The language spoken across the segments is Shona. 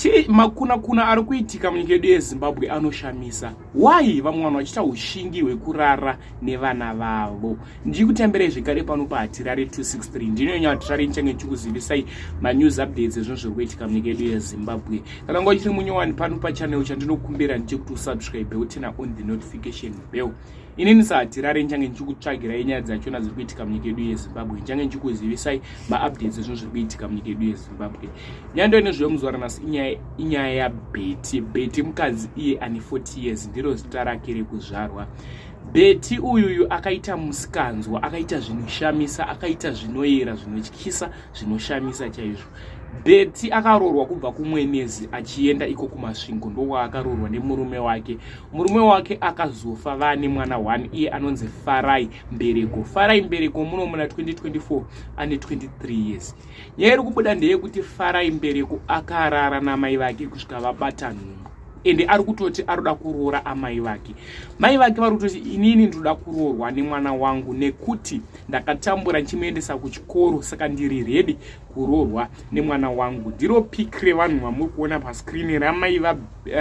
chii makuna kuna ari kuitika munyika yedu yezimbabwe anoshamisa why vamwe vanhu vachiita ushingi hwekurara nevana vavo ndiri kutambirai zvekare pano pahatirare 263 ndinonya hatirare ndichange ndichikuzivisai manews updates ezvinhu zviri kuitika munyika yedu yezimbabwe kana nguva chiri munyowani pano pachanel chandinokumbira ndichekuti usubscribe utena on the notification bell inini sahatirari ndichange ndichikutsvagirai nyaya dzachona dziri kuitika munyika yedu yezimbabwe ndichange ndichikuzivisai maupdates ezvinhu zviri kuitika munyika yedu yezimbabwe nyando ine zviyo muzuva ranasi inyaya yabeti beti mukadzi iye ane 40 years ndiro zita rake rekuzvarwa beti uyuyu akaita musikanzwa akaita zvinoshamisa akaita zvinoyera zvinotyisa zvinoshamisa chaizvo beti akaroorwa kubva kumwenezi achienda iko kumasvingo ndowaakaroorwa nemurume wake murume wake akazofa vane mwana one iye anonzi farai mbereko farai mbereko muno muna 2024 ane 23 years nyaya iri kubuda ndeyekuti farai mbereko akarara namai vake kusvika vabata nhumbu ende ari kutoti arikuda kuroora amai vake mai vake vari kutoti inini ndinoda kuroorwa nemwana wangu nekuti ndakatambura ndichimuendesa kuchikoro saka ndiri redi kuroorwa nemwana wangu ndiro pik revanhu vamuri kuona pascreen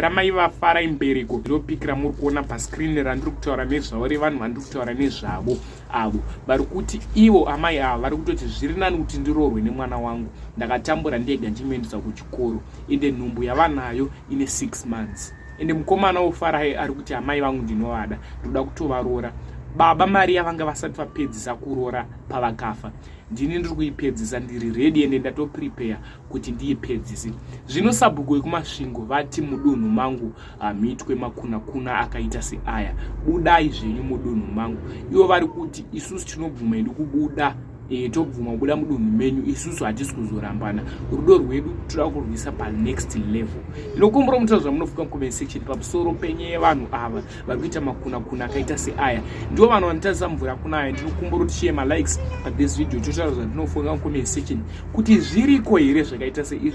ramai vafara imbereko ndiro pik ramuri kuona pascreen randiri kutaura nezvavo revanhu vandiri kutaura nezvavo avo vari kuti ivo amai ava vari kutoti zviri nani kuti ndiroorwe nemwana wangu ndakatambura ndega ndichimuendesa kuchikoro ende nhumbu yavanayo ine six months ende mukomana wofarai ari kuti amai vangu ndinovada ndoda kutovaroora baba mari yavanga vasati vapedzisa kuroora pavakafa ndini ndiri kuipedzisa ndiri redi ende ndatoprepare kuti ndiipedzise zvino sabhuku wekumasvingo vati mudunhu mangu hamuitwe makunakuna akaita seaya budai zvenyu mudunhu mangu ivo vari kuti isusu tinobvuma hedu kubuda e, tobvuma kubuda mudunhu menyu isusu hatisi kuzorambana rudo rwedu toda kurwisa panext level inokumbura mutira zvamunofuka mucomment section pamusoro penye yevanhu ava vari kuita makunakuna akaita seaya ndivo vanhu vanotarisa mvura kuna aya ndinokumbura kuti share malikes pathis video totaura zvandinofunga mucomment section kuti zviriko here zvakaita seizvi